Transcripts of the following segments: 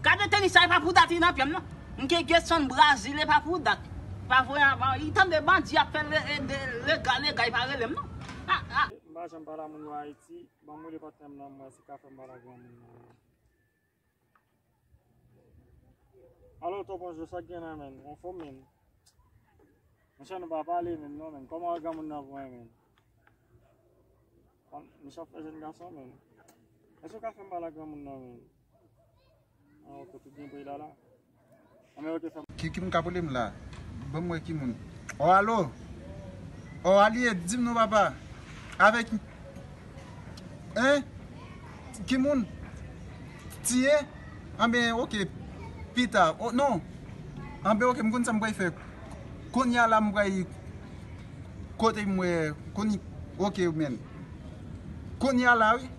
Gade tenis sa epa pou dat li nan pyem nan Mnke Gedson Brasil epa pou dat pa voye anba li tande bandi ap fè lega lega epa relem non ah ah. Mpa janm pale a moun yo ayiti, banm rele patnèm lan mwè si ka fèm pale a granmoun nan. Alo Ton Pancho sak gen la menn, anfom menn? Monchè nou pa pale menm non menn, kòman granmoun nan vwe menn? Monchè wap fè jèn gason menn, èske ou ka fèm pale ak granmoun nan menn? An ok ou tout gen pri la la? Ki moun kap rele m la banm wè ki moun oh allo oh alie dim non papa avek hein ki moun tie anben ok pita oh non anben ok m konn sa m pral fè konnya la m pral kote m wè ok menn konnya la wi.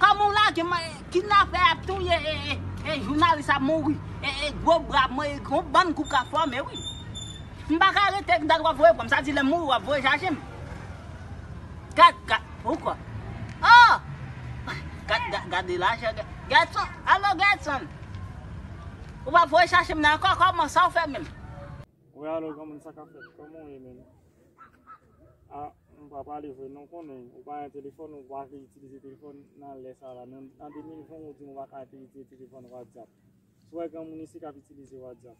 Kòmanw lagem kidnapè ap touye e jounalis ap mouri e gwo bra mwen e gon bann kou ka fòme wi m paka rete gad wap voye pranm sa di lèm mouri wap voye chajem gad gad poukò oh gad gad gade lajè Gedson alo Gedson ou pap voye chachem nan ankò kòman sa ou fè menm. Wi alo granmoun sa kap fèt koman ou ye menm ah m pa pale vre non konnen ou pa gen telefòn ou pa vle itilize telefòn nan lè sa la nan 2020 ou di m ou pa ka itilize telefòn whatsapp sou wè granmoun isi kap itilize whatsapp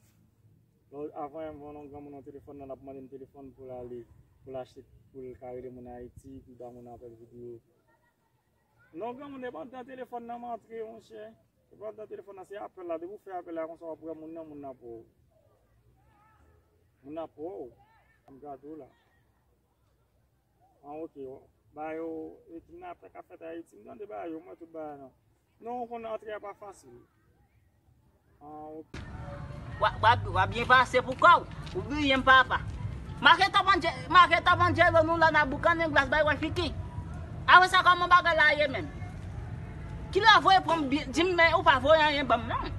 lè a voyem von yon granmoun yon telefòn nan lap mande m telefòn pou l ale pou l achte poul ka rele moun ayiti pou l ba moun apèl video. Lè w granmoun e pandan telefòn nan antre monchè, e pandan telefòn nan se apèl la, depi w fè apèl la konsa w ap wè moun nan, moun nan ap wè w. Moun nan ap wè w, m gade w la. An ok, bagay yo, e kidnapè k ap fèt Ayiti, m tande bagay yo, m wè tout bagay nan. Non w konn antre a pa fasil. Wap byen pase pou kòw. Ou bliyem papa. Make top an make top an jelo nou la na boukannen glas bay wè fiki. Apre sa kòman bagay la ye menm. Kilè wap voye pranm dim men ou pa voye anyen banm non.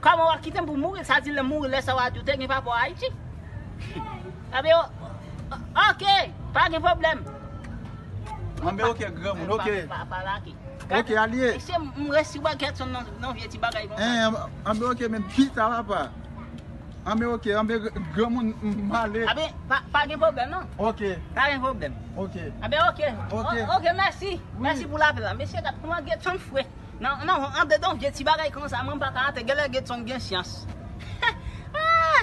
Kòman wap kitem pou mouri sa di lèm mouri lè sa wa di ou te gen papa w Ayiti. Ebyen ok pa gen pwoblèm. Anben ok granmoun ok. Papa la ki. Ok alye. Mesye m resi wè Gertson nan vye ti bagay konsa. Eeh anbe ok men pita la pa. Anbe ok anbe granmoun m ale. Anbe pa gen pwoblèm non. Ok. Pa gen pwoblèm. Ok. Anbe ok. Ok. Ok mèsi. Mèsi pou lapèl la. Mesye gad kouman Gertson fre. Nan anbe nan vye ti bagay konsa mwen m paka atè. Genlè Gertson gen syans. Eeh.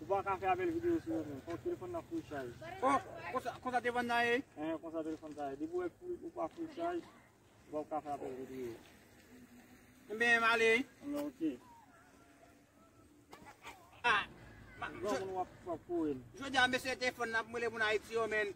Ou pa ka fè apèl video sou yo menm. Fòk telefòn nan full chaj. Oh! Konsa telefòn nan ye? Ehe konsa telefòn sa ye. Depi ou wè ou pa full chaj, ou pap ka fè apèl video. Enben, m'ale. Enben ok. Ah! Jodi a mesye telefòn nan ap mwele moun Ayiti yo men.